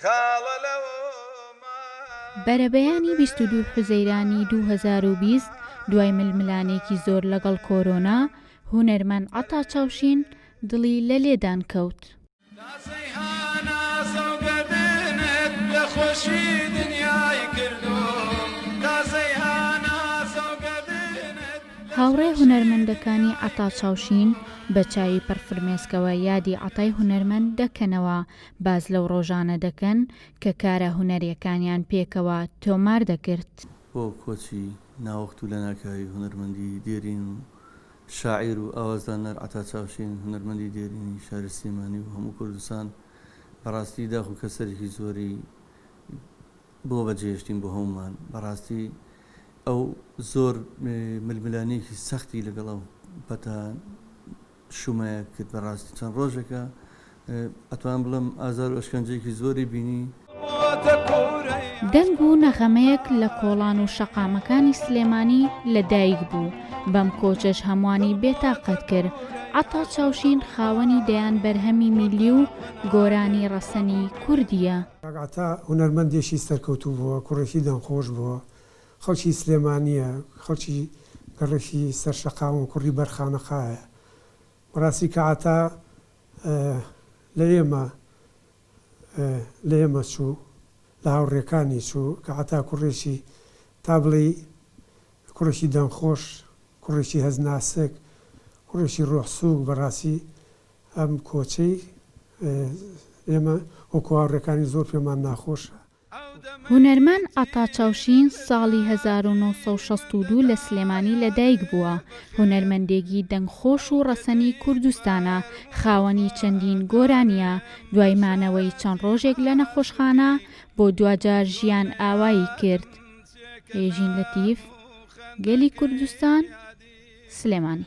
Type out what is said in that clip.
خاڵە لەومان. بەرەبەیانی بیست و دوو حوزەیرانی دوو هەزار و بیست دوای ململانێکی زۆر لەگەڵ کۆرۆنا، هونەرمەند عەتا چاوشین دڵی لە لێدان کەوت. تاسەی هاناسە و گەردنت لە خۆشی دنیای کردووم تاسەی هاناسە و گەردنت لە هاوڕێ خۆشی هونەرمەندەکانی عەتا چاوشین بە چاوی پڕ فرمێسکەوە یادی عەتای هونەرمەند دەکەنەوە باس لەو ڕۆژانە دەکەن کە کارە هونەریەکانیان پێکەوە تۆمار دەکرد. بۆ کۆچی ناوەخت و لەناکاوی هونەرمەندی دێرین و شاعیر و ئاوازدانەر عەتا چاوشین، هونەرمەندی دێرینی شاری سلێمانی و هەموو کوردستان، بەڕاستی داخ و کەسەرێکی زۆری بۆ بەجێهێشتین بۆ هەموومان، بەڕاستی ئەو زۆر ململانێیەکی سەختی لەگەڵ ئەو پەتا شومایە کرد بەڕاستی چەند ڕۆژێکە ئەتوانم بڵێم ئازار و ئەشکەنجەیەکی زۆری بینی. دەنگ و نەغەمەیەک لە کۆڵان و شەقامەکانی سلێمانی لە دایک بوو بەم کۆچەش هەموانی بێتاقەت کرد عەتا چاوشین خاوەنی دەیان بەرهەمی میللی و گۆرانی ڕەسەنی کوردییە. کاک عەتا هونەرمەندێکی سەرکەوتوو بووە، کوڕێکی دەنگخۆش بووە، خەڵکی سلێمانییە، خەڵکی لە ڕێکی سەر شەقامە، کوڕی بەر خانەقایە. بەڕاستی کە عەتا لە ئێمە لە ئێمە چوو، لە هاوڕێکانی چوو، کە عەتا کوڕێکی تا بڵێی کوڕێکی دەنگخۆش، کوڕێکی هەست ناسک، کوڕێکی ڕۆح سووک، بەڕاستی ئەم کۆچەی ئێمە وەکوو هاوڕێکانی زۆر پێمان ناخۆشە. هونەرمەند عەتا چاوشین ساڵی هەزار و نۆ سەد و شەست و دوو لە سلێمانی لە دایک بووە، هونەرمەندێگی دەنگ خۆش و ڕەسەنی کوردستانە، خاوەنی چەندین گۆرانیە، دوای مانەوەی چەند ڕۆژێک لە نەخۆشخانە بۆ دواجار ژیان ئاوایی کرد. ئێژین لەتیف، گەلی کوردستان، سلێمانی.